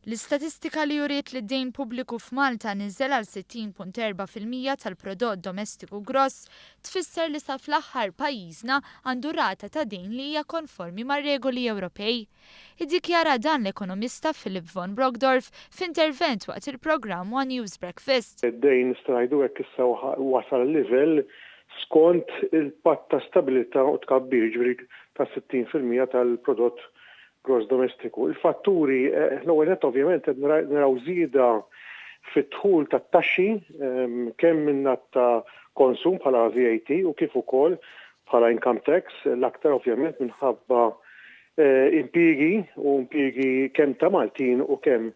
L-istatistika li uriet li d-dejn pubbliku f'Malta niżel għal 60.4 fil-mija tal-prodott domestiku gross tfisser li sa fl-aħħar pajjiżna għandu rata ta' dejn li hija konformi mar-regoli Ewropej. Iddikjara dan l-ekonomista Philip von Brockdorff f'intervent waqt il-programm One News Breakfast. Id-dejn strajdu hekk issa wasal livell skont il-Patt ta' Stabilità u Tkabbir, jiġifieri ta' 60 fil-mija tal-prodott gross domestiku. Il-fatturi, l-ewwel nett ovvjament qed naraw żieda fid-dħul tat-taxxi kemm min-naħa ta' konsum bħala VAT u kif ukoll bħala income tax, l-aktar ovvjament minħabba impjiegi u impjiegi kemm ta' Maltin u kemm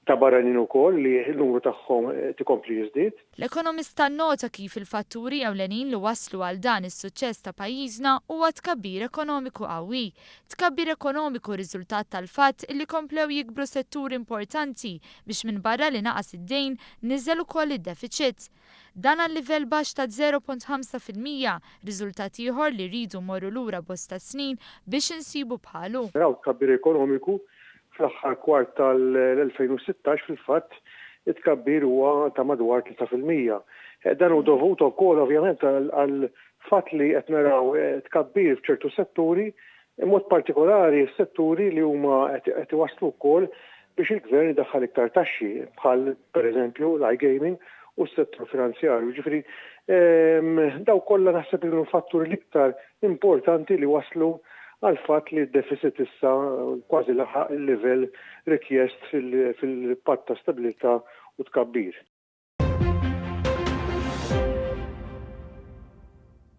ta' barranin ukoll li n-numru tagħhom qed ikompli jiżdied. L-ekonomista nnota kif il-fatturi ewlenin li wasslu għal dan is-suċċess ta' pajjiżna huwa tkabbir ekonomiku qawwi. Tkabbir ekonomiku riżultat tal-fatt illi komplew jikbru setturi importanti biex minbarra li naqas id-dejn, niżel ukoll id-defiċit. Dan għal livell baxx ta' żero punt ħamsa fil-mija, riżultat ieħor li rridu mmorru lura bosta snin biex insibu bħalu. Naraw tkabbir ekonomiku, fl-aħħar kwart tal-2016 fil-fatt it-tkabbir huwa ta' madwar tlieta fil-mija. Dan hu dovut ukoll ovvjament għall-fatt li qed naraw tkabbir f'ċertu setturi B'mod partikolari s-setturi li huma qed iwasslu wkoll biex il-Gvern idaħħal iktar taxxi bħal, pereżempju, l-iGaming u s-settur finanzjarju. Jiġifieri dawk kollha naħseb li kienu l-fatturi l-iktar importanti li wasslu għall-fatt li d-defiċit issa kważi laħaq il-livell rikjest fil-Patt ta' Stabilità u Tkabbir.